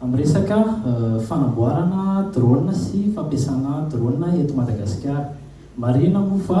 Amin'ny resaka fanamboarana drone sy fampiasana drone eto Madagasikara. Marihina moa fa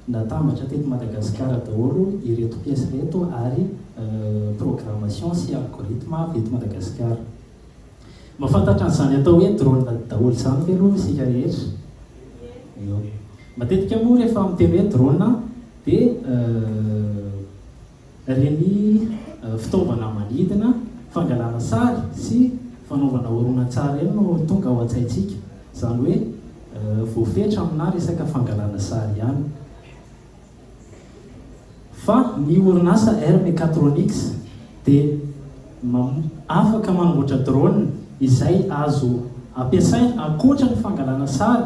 natambatra teto Madagasikara daholo ireto pièces ireto ary programmation sy algorithme avy eto Madagasikara. Mahafantatra an'izany atao hoe drone daholo izany ve aloha isika rehetra? Eo. Matetika moa rehefa miteny hoe drone dia Ireny fitaovana manidina, fangalana sary sy fanaovana horonantsary ireny no tonga ao an-tsaintsika. Izany hoe voafetra aminà resaka fangalana sary ihany. Fa ny orinasa Air Mechatronics dia afaka manamboatra drone izay azo ampiasaina ankoatra ny fangalana sary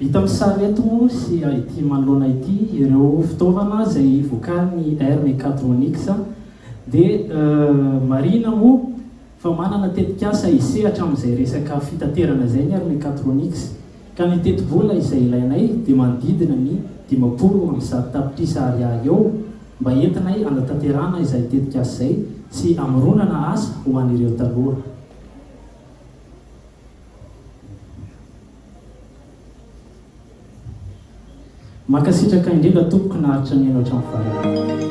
Hita amin'ny sary eto moa sy ity manoloana ity ireo fitaovana izay vokarin'ny Air Mechatronics dia marihina moa fa manana tetikasa hisehatra amin'izay resaka fitaterana izay ny Air Mechatronics. Ka ny tetibola izay ilainay dia manodidina ny dimampolo amby zato tapitrisa Ariary eo mba entinay hanatanterahana izay tetikasa izay sy hamoronana asa ho an'ireo taloha. Mankasitraka indrindra tompoko naharitra nihaino hatramin'ny farany.